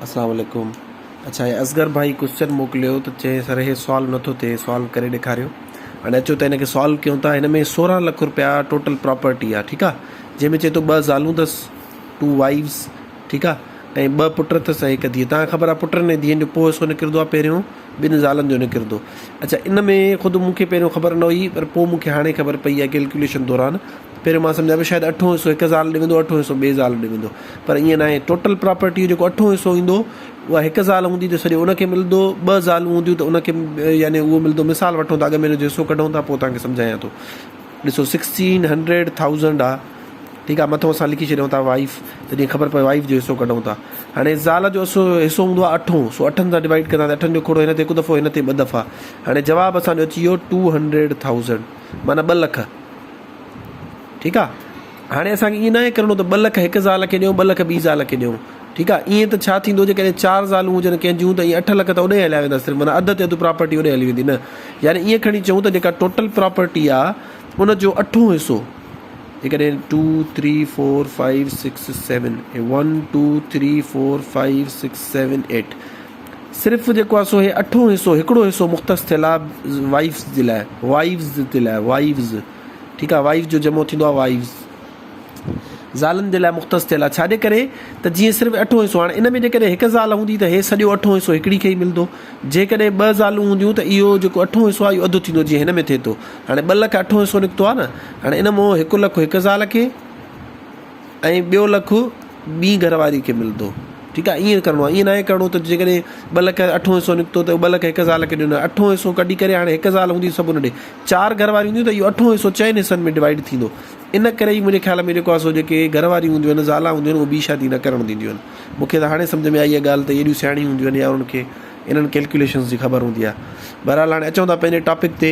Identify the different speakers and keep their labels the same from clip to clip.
Speaker 1: اسلام عليڪم اڇا هي اصغر ڀائي ڪوسچن موڪليو ته چي سر هي سوال نٿو ٿئي سوال ڪري ڏيکاريو هاڻي اچو ته هن کي سوال ڪيون ٿا هن ۾ سورهن لک روپيا ٽوٽل پراپرٽي آ ٺيڪ آ جنهن ۾ چي ٿو ٻه زالون اٿس ٽو وائيوز ٺيڪ آ ۽ ٻه پٽ اٿس هڪ ڌيء تان خبر آ پٽن ۽ ڌيئن جو پو حصو نڪرندو آ پهريون ٻن زالن جو نڪرندو اچا ان ۾ خود مون کي پهريون خبر نه هئي پر پو مون کي هاڻي خبر پئي آ ڪيلڪيوليشن دوران پهريون مان سمجهان پيو شايد اٺون حصو هڪ زال ڏي ويندو اٺون حصو ٻي زال ڏي ويندو پر ائين ناهي ٽوٽل پراپرٽي جو جيڪو اٺون حصو ايندو اها هڪ زال هوندي ته سڄو ان کي ملندو ٻه زالون هونديون ته ان کي يعني اهو ملندو مثال وٺون ٿا اڳ ۾ ان جو حصو ڪڍون ٿا پوء توهان کي سمجهايان ٿو ڏسو سڪسٽين هنڊريڊ ٿائوزنڊ آ ٺيڪ آ مٿو اسان لکي ڇڏيون ٿا وائف ته جيئن خبر پوي وائف جو حصو ڪڍون ٿا هاڻي زال جو حصو حصو هوندو آ اٺون سو اٺن سان ڊوائيڊ ڪندا اٺن جو کوڙو هن تي هڪ دفعو هن تي ٻه دفعا هاڻي جواب اسان جو اچي ويو ٽو هنڊريڊ ٿائوزنڊ معنيٰ ٻه لک ٺيڪ آ هاڻي اسان کي ائين ناهي ڪرڻو ته ٻه لک هڪ زال کي ڏيون ٻه لک ٻي زال کي ڏيون ٺيڪ آ ائين ته ڇا ٿيندو جي ڪڏهن چار زالون هجن ڪنهن جون ته ائين اٺ لک ته اوڏي هليا ويندا صرف معنيٰ اڌ تي اڌ پراپرٽي اوڏي هلي ويندي نه يعني ائين کڻي چئون ته جيڪا ٽوٽل پراپرٽي آ ان جو اٺون حصو جي ڪڏهن two three four five six seven one two three four five six seven eight صرف جيڪو آهي سو هي اٺون حصو هڪڙو حصو مختص ٿيل آهي وائفز جي لاء Wives جي لاء Wives ٺيڪ آهي Wives جو جمع ٿيندو آهي Wives زالن جي لاء مختص ٿيل آهي ڇاڄي ڪري ته جيئن صرف اٺون حصو هاڻي ان ۾ جيڪڏهن هڪ زال هوندي ته هي سڄو اٺون حصو هڪڙي کي ئي ملندو جيڪڏهن ٻه زالون هونديون ته اهو جيڪو اٺون حصو آهي اهو اڌ ٿيندو جيئن هن ۾ ٿئي ٿو هاڻي ٻه لک اٺون حصو نڪتو آهي نه هاڻي ان مون هڪ لک هڪ زال کي ۽ ٻيو لک ٻي گهر واري کي ملندو ٺيڪ آهي ائين ڪرڻو ائين ناهي ڪرڻو ته جيڪڏهن ٻه لک اٺون حصو نڪتو ته ٻه لک هڪ زال کي ڏنو اٺون حصو ڪڍي ڪري هاڻي هڪ زال هوندي سڀ ڏي چار گهر واري هونديون ته اهو اٺون حصو چئن حصن ۾ ڊوائيڊ ٿيندو ان ڪري ئي منهنجي خيال ۾ جيڪو آهي سو جيڪي گهر واري هونديون آهن زالا هونديون آهن اهو ٻي شادي نه ڪرڻ ڏينديون آهن مونکي ته هاڻي سمجهه ۾ آئي آهي ڳالهه ته اهي ايڏيون سياڻيون هونديون آهن يا انهن کي انهن ڪيلڪوليشنس جي خبر هوندي آهي بهرحال هاڻي اچون ٿا پنهنجي ٽاپڪ تي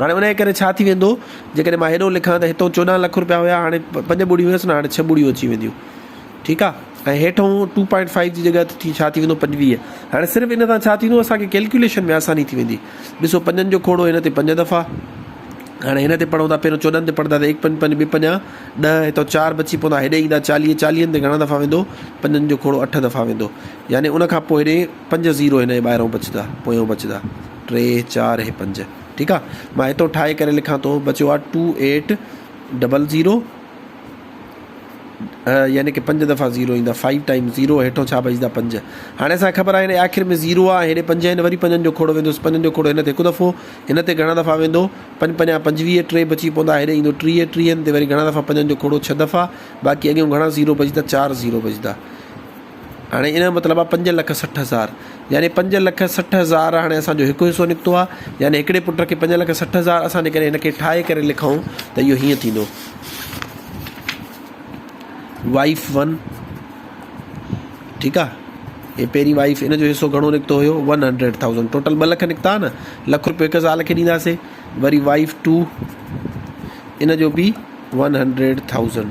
Speaker 1: هاڻي انهيء ڪري ڇا ٿي ويندو، جيڪڏهن مان هيڏو لکان ته هتئون چوڏهن لک رپيا هيا، هاڻي پنج ٻڙيون هيس نه، هاڻي ڇهه ٻڙيون اچي وينديون، ٺيڪ آ، ۽ هيٺئون ٽو پوائنٽ فائيو جي جڳهه تي ڇا ٿي ويندو، پنجويهه. هاڻي صرف ان سان ڇا ٿيندو، اسان کي ڪيلڪيوليشن ۾ آساني ٿي ويندي. ڏسو پنجن جو کوڙو هن تي پنج دفعا، هاڻي هن تي پڙهون ٿا، پهريون چوڏهن تي پڙهنداسين، هڪ پنج پنج، ٻه پنجا ڏهه، هتئون چار بچي پوندا، هيڏي ايندا چاليهه، چاليهن تي گهڻا دفعا ويندو، پنجن جو کوڙو اٺ دفعا ويندو، يعني ان کان پوء هيڏي. پنج زيرو هن جي ٻاهرئون بچدا پويون بچدا ٽي چار هي پنج ٺيڪ آ مان هتئون ٺاهي ڪري لکان ٿو بچيو آ ٽو ايٽ ڊبل زيرو يعني کہ پنج دفعہ زيرو ايندا فائيو ٽائيم زيرو هيٺو ڇا بچدا پنج هاڻي اسان خبر آهي هن آخر ۾ زيرو آ هيڏي پنج هن وري پنجن جو کوڙو ويندوس پنجن جو کوڙو هن تي هڪ دفعو هن تي گهڻا دفعا ويندو پنج پنجا پنجويهه ٽي بچي پوندا هيڏي ايندو ٽيهه ٽيهن تي وري گهڻا دفعا پنجن جو کوڙو ڇهه دفعا باقي اڳيون گهڻا زيرو بچدا چار زيرو بچدا هاڻي ان جو مطلب آهي پنج لک سٺ هزار يعني پنج لک سٺ هزار هاڻي اسانجو هڪ حصو نڪتو آهي يعني هڪڙي پٽ کي پنج لک سٺ هزار اسان جيڪڏهن هن کي ٺاهي ڪري لکون ته اهو هيئن ٿيندو وائف ون ٺيڪ آ هي پهرين وائف ان جو حصو گهڻو نڪتو هيو ون هنڊريڊ ٿاؤزنڊ ٽوٽل ٻه لک نڪتا نه لک روپيو هڪ زال کي ڏينداسي وري وائف ٽو ان جو بي ون هنڊريڊ ٿاؤزنڊ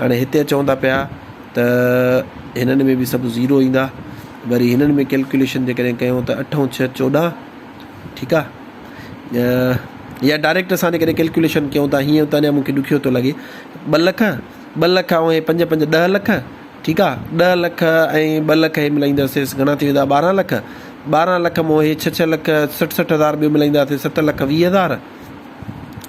Speaker 1: هاڻي هتي چون ٿا پيا ته هنن ۾ به سڀ زيرو ايندا وري هنن ۾ ڪيلڪوليشن جيڪڏهن ڪيون ته اٺ ۽ ڇهه چوڏهن ٺيڪ آ يا ڊائريڪٽ اسان جيڪڏهن ڪيلڪوليشن ڪيون ٿا هيئن ته اڃا مونکي ڏکيو ٿو لڳي ٻه لک ٻه لک ۽ هي پنج پنج ڏهه لک ٺيڪ آ ڏهه لک ۽ ٻه لک هي ملائينداسيس گهڻا ٿي ويندا ٻارهن لک ٻارهن لک مون هي ڇهه ڇهه لک سٺ سٺ هزار ٻيو ملائينداسي ست لک ويهه هزار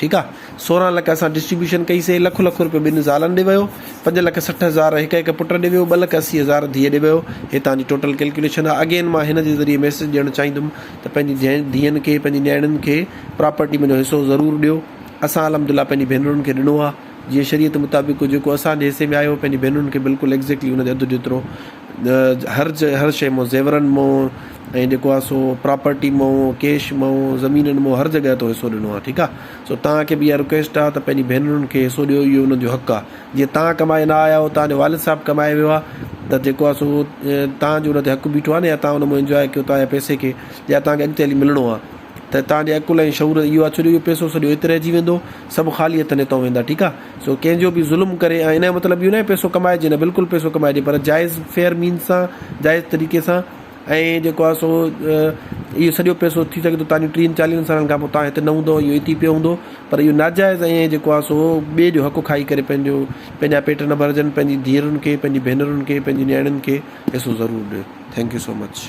Speaker 1: ٺيڪ آ سورهن لک اسان ڊسٽريبيوشن ڪئي سي لک لک روپيو ٻن زالن ڏي ويو پنج لک سٺ هزار هڪ هڪ پٽ ڏي ويو ٻه لک اسي هزار ڌيء ڏي ويو هي توهان جي ٽوٽل ڪلڪيوليشن آ اگين مان هن جي ذريعي ميسج ڏيڻ چاهيندم ته پنهنجي جين ڌيئن کي پنهنجي نياڻين کي پراپرٽي مان جو حصو ضرور ڏيو اسان الحمدالله پنهنجي ڀينرن کي ڏنو آ جيئن شريعت مطابق جيڪو اسان جي حصي ۾ آيو پنهنجي ڀينرن کي بلڪل ايگزيڪٽلي ان جي اڌ جيترو هر هر شيء مئو، زيورن مئو ۽ جيڪو آ سو پراپرٽي مئو، ڪيش مئو، زمينن مئو هر جڳهه تو حصو ڏنو آ ٺيڪ آ سو توهان کي به اها رڪويسٽ آ ته پنهنجي ڀينرن کي حصو ڏيو اهو انهن جو حق آ جيئن توهان ڪمائي نه آيا آهيو توهان جو والد صاحب ڪمائي ويو آ ته جيڪو آ سو توهان جو ان تي حق بيٺو آ نه يا توهان ان مئو انجواء ڪيو توهان جي پئسي کي يا توهان کي اڳتي هلي ملڻو آ ته توهان جي عقل ۽ شعور اهو آ ڇو جو اهو پئسو سڄو هت رهجي ويندو سڀ خالي هٿن هتئون ويندا ٺيڪ آ. سو ڪنهن جو به ظلم ڪري ۽ ان جو مطلب اهو ناهي پئسو ڪمائجي نه بلڪل پئسو ڪمائجي پر جائز فيئر مينز سان جائز طريقي سان ۽ جيڪو آهي سو اهو سڄو پئسو ٿي سگهي ٿو تانجو ٽيهن چاليهن سالن کان پوء تان هت نه هوندو اهو هت ئي پيو هوندو پر اهو ناجائز ۽ جيڪو آهي سو ٻئي جو حق کائي ڪري پنهنجو پنهنجا پيٽ نه ڀرجن پنهنجي ڌيئرن کي پنهنجي ڀينرن کي پنهنجي نياڻين کي پئسو ضرور ڏيو ٿينڪ يو سو مچ.